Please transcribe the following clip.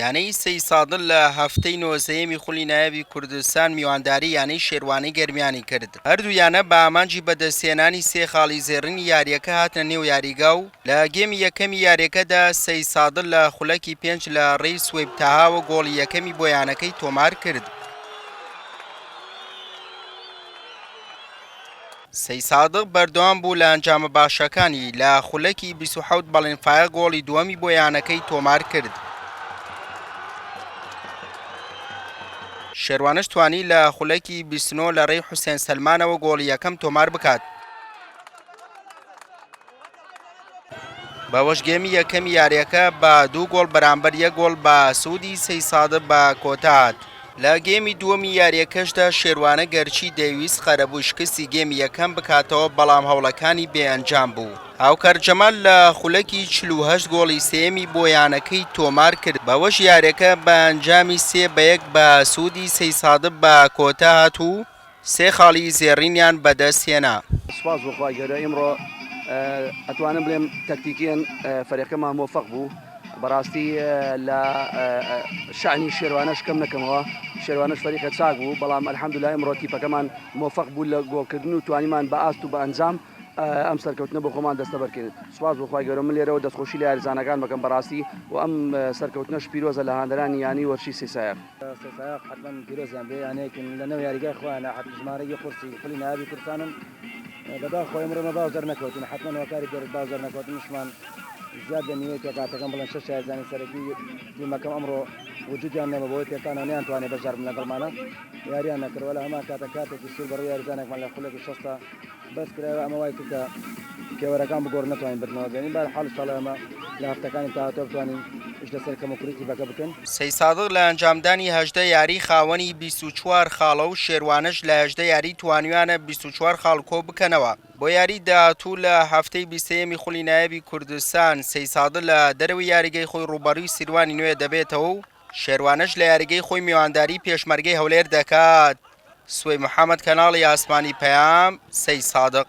یانەی سەیسادڵ لە هەفتەی نۆزدەیەمی خولی نایابی کوردستان میوانداری یانەی شێروانی گەرمیانی کرد هەردوو یانە بە ئامانجی بەدەستهێنانی سێ خاڵی زێڕینی یاریەکە هاتنە نێو یاریگا و لە گێمی یەکەمی یاریەکەدا سەیسادڵ لە خولەکی پێنج لە ڕێی سوەیب تەهاوە گۆڵی یەکەمی بۆ یانەکەی تۆمار کرد. سەیسادق بەردەوام بوو لە ئەنجامە باشەکانی، لە خولەکی بیست و حەوت بەڵێن فایق گۆڵی دووەمی بۆ یانەکەی تۆمارکرد، شێروانش توانی لە خولەکی بیست و نۆ لە رێی حوسێن سەلمانەوە گۆڵی یەکەم تۆماربکات. باوەش گێمی یەکەمی یاریەکە بە دوو گۆڵ بەرامبەر یە گۆڵ بە سوودی سەی سادە بە کۆتات لە گێمی دووەمی یاریەکەشدا شێوانە گەرچی دەیویست قەرەبوو شکستی گێمی یەکەم بکاتەوە بەڵام هەوڵەکانی بێ ئەنجام بوو هاوکار جەمال لە خولەکی چلوهشت گۆڵی سێمی بۆ یانەکەی تۆمار کرد بەوەش یاریەکە بە ئەنجامی سێ بە یەک بە سوودی سەی سادە بە کۆتات و سێ خاڵی زێڕینیان بەدەست هێنا. سوپاس بۆ خوای گەورە ئیمڕۆ ئەتوانم بڵێم تەکتیکیەن فەرێقەکەمان مۆفەق بوو بەڕاستی لە شانی شێروانەش کەم نەکەمەوە شێروانەش فەریقە چاک بوو بەڵام ئەلحەمدولا ئیمڕۆ تیپەکەمان مۆفەق بوو لە گۆڵکردن و توانیمان بە ئاست و بە ئەنجام ئەم سەرکەوتنە بۆ خۆمان دەستەبەرکەین سوپاس بۆ خوای گەورە من لێرەوە دەستخۆشی لە یاریزانەکان بەکەم بەڕاستی و ئەم سەرکەوتنەش پیرۆزە لە هاندەرانی یانەی وەرشی سێ سایەق. سەرسایەق حتمەن پیرۆزیان بێ یانەیەکن لە نەو یاریگای خۆیانە حەب ژمارە یە قورسی پلی ناوی کوردستانن بەدا خۆی مرۆمە باو دەر نەکەوتن حتمەن وەکاری دەر باو دەر نەکەوتن شمان زیاد لە نیوەی پێکاتەکەم بڵێن شەش شارزانانی سەرەکی تیمەکەم ئەمڕۆ وجودیان نەمە بۆی پێکانەوە نیان توانێ بەشدار بن لەگەڵمانە یاریان نەکردوە لە هەمان کاتە کاتێکی سوور بەڕوو یاریزانێکمان لە خولێکی شەستە بەس کرایەوە ئەمە وای کرد کە پێوەرەکان بگۆڕن نەتوانین بردنەوە بێنین بەر حاڵ شەڵێ ئەمە لە هەفتەکانی تاهاتۆ بتوانین ئیش لەسەر کەم و کوڕی تیپەکە بکەین. سەی سادق لە ئەنجامدانی هەژدە یاری خاوەنی بیست و چوار خاڵە و شێروانەش لە هەژدە یاری توانیویانە بیست و چوار خاڵ کۆ بکەنەوە بۆ یاری داهاتوو لە هەفتەی بیسێیەمی خولی نایەبی کوردستان سەی سادق لە دەرەوەی یاریگەی خۆی ڕووبەڕوی سیروانی نوێ دەبێتەوە و شێروانەش لە یاریگەی خۆی میوانداری پێشمەرگەی هەولێر دەکات، سوەی محەمەد کەناڵی ئاسمانی پەیام، سەیسادق.